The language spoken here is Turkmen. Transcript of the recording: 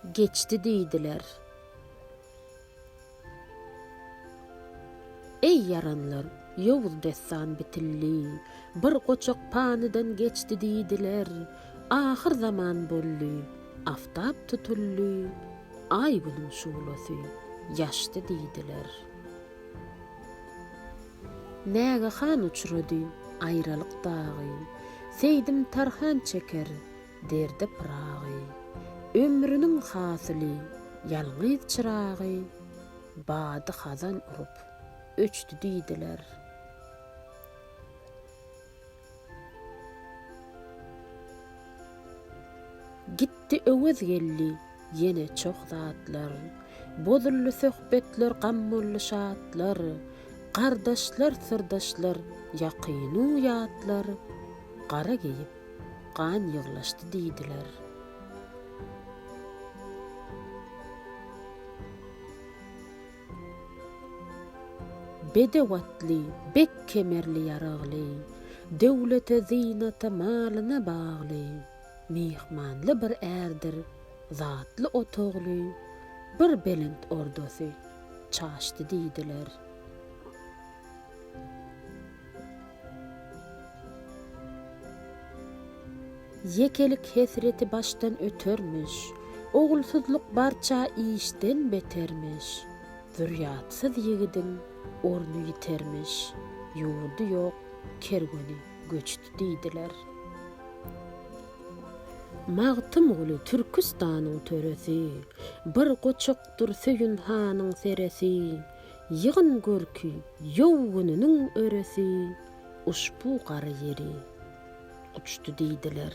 Geçdi diýdiler. Eý ýaranlar, ýowuz dessan bitildi. Bir goçak panydan geçdi diýdiler. Ahyr zaman boldy. Aftap tutuldy. Aý-günüň şuglasy ýaşdy diýdiler. Näge han uçrady aýralyk dagy, Seýdim Tarhan çeker derde pyragy. Ömrüniň hasyly ýalňyz çyragy, Bady hazan urup, öçdi diýdiler. Gitdi Öwez geldi ýene çoh zatlar, Bozuldy söhbetler gam boldy şatlar, Gardaşlar syrdaşlar ýakynu ýatlar, Gara geýip gan ýyglaşdy diýdiler. Bedew atly, bek kemerli ýaragly, Döwlete, zynata, malyna bagly, Myhmanly bir ärdir, zatly otagly, Bir belent ordasy çaşdy diýdiler. Ýekelik hesreti başdan ötermiş. Ogulsyzlyk barça işden betermiş. Zürýatsyz ýigidiň orny ýitermiş. Ýurdy ýok, kerweni göçdi diýdiler. Magtymguly Türküstanyň töresi. Bir goçakdyr Söýün hanyň seresi. Ýygyn görki ýowguniniň örüsi uşbu gara ýeri guçdy diýdiler.